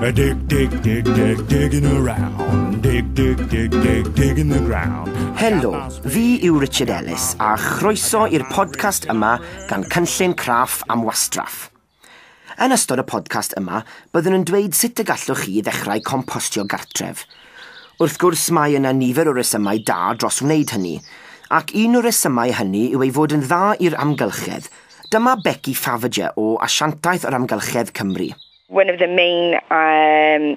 A dig, dig, dig, dig, digging around. Dig, dig, dig, dig, digging the ground. Helo, fi yw Richard Ellis a chroeso i'r podcast yma gan Cynllun Craff am Wastraff. Yn ystod y podcast yma, byddwn yn dweud sut y gallwch chi ddechrau compostio gartref. Wrth gwrs, mae yna nifer o resymau da dros wneud hynny, ac un o'r resymau hynny yw ei fod yn dda i'r amgylchedd. Dyma Becky Faviger o Asiantaeth yr Amgylchedd Cymru. One of the main um,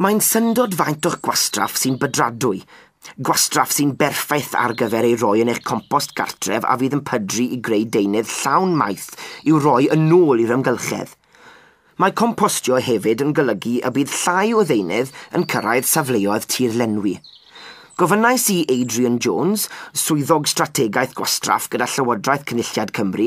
Mae'n syndod faint o'ch gwastraff sy'n bydradwy, gwastraff sy'n berffaith ar gyfer ei roi yn eich compost gartref a fydd yn pydru i greu deunydd llawn maeth i'w roi yn ôl i'r amgylchedd. Mae compostio hefyd yn golygu y bydd llai o ddeunydd yn cyrraedd safleoedd tirlenwi. Gofynnais i Adrian Jones, Swyddog Strategaeth Gwastraff gyda Llywodraeth Cynulliad Cymru,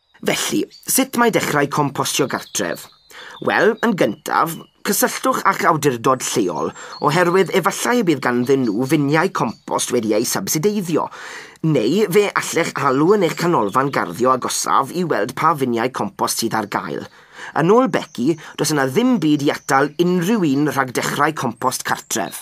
Felly, sut mae dechrau compostio gartref? Wel, yn gyntaf, cysylltwch â'ch awdurdod lleol, oherwydd efallai y bydd ganddyn nhw finiau compost wedi eu sybsideiddio. Neu fe allech alw yn eich canolfan garddio agosaf i weld pa finiau compost sydd ar gael. Yn ôl Becky, does yna ddim byd i atal unrhyw un rhag dechrau compost cartref.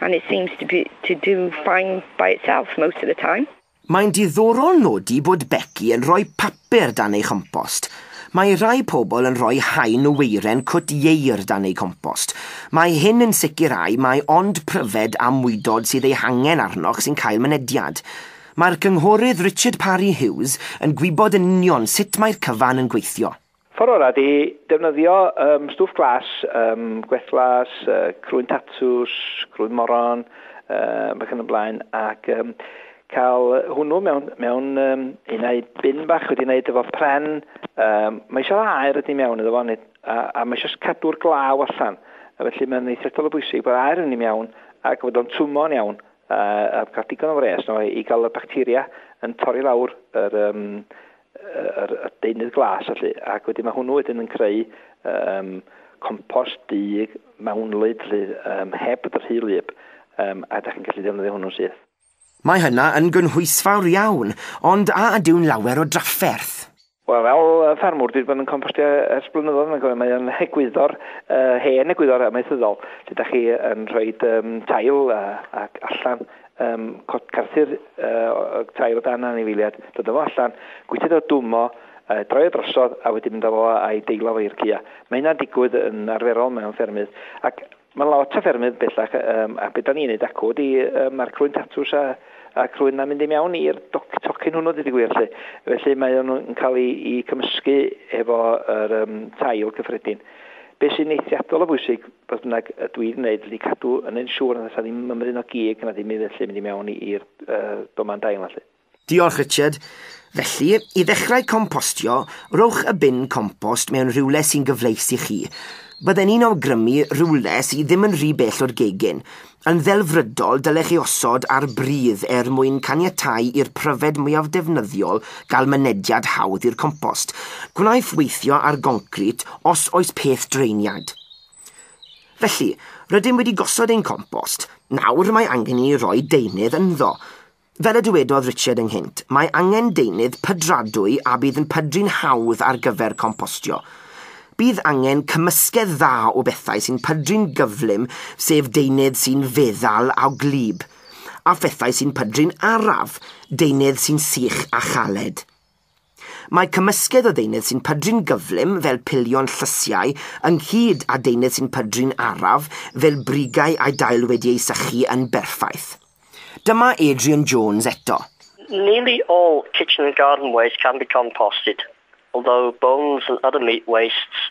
and it seems to be to do fine by itself most of the time. Mae'n diddorol nodi bod Becky yn rhoi papur dan ei chompost. Mae rhai pobl yn rhoi haen o weiren cwt ieir dan eu compost. Mae hyn yn sicrhau mai ond pryfed a mwydod sydd eu hangen arnoch sy'n cael mynediad. Mae'r Cynghorydd Richard Parry Hughes yn gwybod yn union sut mae'r cyfan yn gweithio. Ffordd orau ydy defnyddio yym stwff glas, yym gwellglas, yy crwyn tatws, crwyn moron, yy ac yn y blaen, ac yym cael hwnnw mewn, mewn um, un ai bin bach wedi wneud efo pren, um, mae eisiau aer ydy mewn iddo fo, a, a mae eisiau cadw'r glaw allan. A felly mae'n eithriadol o bwysig bod aer yn ei mewn ac bod o'n twmo'n iawn a, a cael digon o fres no, i gael y bacteria yn torri lawr yr, um, yr, y deunydd glas felly, ac wedyn mae hwnnw wedyn yn creu um, compost du mewnlyd lle, um, heb bod yr hyl lyb, um, a da chi'n gallu defnyddio hwnnw syth. Mae hynna yn gynhwysfawr iawn, ond a ydyw'n lawer o drafferth? Wel, fel ffermwr, dwi wedi bod yn compostio ers blynyddoedd mae'n gofio, mae'n egwyddor, uh, hen egwyddor amaethyddol, lle da chi yn rhoi um, tail uh, ac allan Ym Mhort Carthyr oedd tair o dan anifeiliad, dod â fo allan, gwythiad o dwm o, droi o drosodd a wedyn mynd â fo a'i deilo fo i'r cua. Mae hynna'n digwydd yn arferol mewn ffermydd ac mewn lot o ffermydd bellach a be' 'dan ni'n neud acw ydi ma'r crwyn tatws a a crwyn 'na'n mynd i mewn i'r doc- tocyn hwnnw deud y gwir 'lly. Felly mae o'n yn ca'l 'i 'i cymysgu efo yr yym tail cyffredin. Be sy'n eithriadol o bwysig, fodd bynnag, y dwi 'di wneud ydy cadw yn yn siŵr nad oes 'na ddim mymryn o gig na ddim unfelly mynd i mewn i'r domen dail 'na 'lly. Diolch, Richard. Felly, i ddechrau compostio, rhowch y bin compost mewn rhywle sy'n gyfleus i chi. Bydden i'n awgrymu rhywle sy' ddim yn rhy bell o'r gegin. Yn ddelfrydol, dylech ei osod ar bridd er mwyn caniatáu i'r pryfed mwyaf defnyddiol gael mynediad hawdd i'r compost. Gwnaiff weithio ar goncrit os oes peth draeniad. Felly, rydym wedi gosod ein compost. Nawr mae angen i ni roi deunydd ynddo. Fel y dywedodd Richard ynghynt, mae angen deunydd pydradwy a bydd yn pydru'n hawdd ar gyfer compostio. Bydd angen cymysgedd dda o bethau sy'n pydru'n gyflym sef deunydd sy'n feddal a gwlyb, a phethau sy'n pydru'n araf, deunydd sy'n sych a chaled. Mae cymysgedd o ddeunydd sy'n pydru'n gyflym fel pilion llysiau ynghyd â deunydd sy'n pydru'n araf fel brigau â'i dail wedi ei sychu yn berffaith. Dyma Adrian Jones eto. Nearly all kitchen and garden waste can be composted, although bones and other meat wastes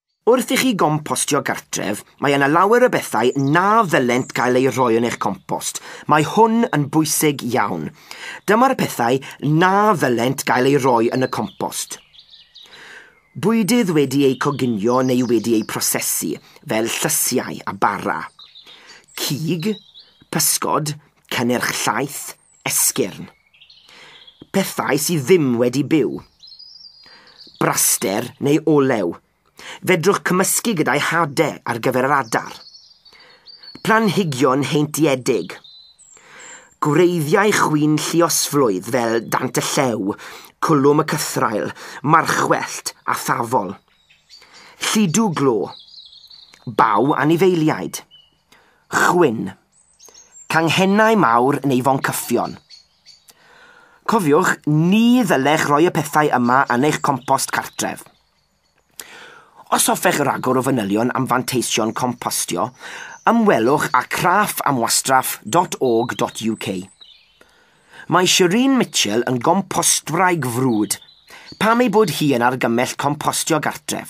Wrth i chi gompostio gartref, mae yna lawer o bethau na ddylent gael eu rhoi yn eich compost. Mae hwn yn bwysig iawn. Dyma'r pethau na ddylent gael eu rhoi yn y compost. Bwydydd wedi eu coginio neu wedi eu prosesu, fel llysiau a bara. Cig, pysgod, cynnyrch llaeth, Esgyrn. Pethau sydd ddim wedi byw. Braster neu olew. Fedrwch cymysgu gyda'i hade ar gyfer yr adar. Planhigion heintiedig. Gwreiddiau chwyn lluosflwydd fel dant y llew, cwlwm y cythraul, marchwellt a thafol. Llidw glo. Baw anifeiliaid. Chwyn. Canghennau mawr neu foncyffion. Cofiwch, ni ddylech roi y pethau yma yn eich compost cartref. Os hoffech ragor o fanylion am fanteision compostio, ymwelwch â craffamwastraff.org.uk. Mae Shereen Mitchell yn gompostwraig frwd, pam ei bod hi yn argymell compostio gartref?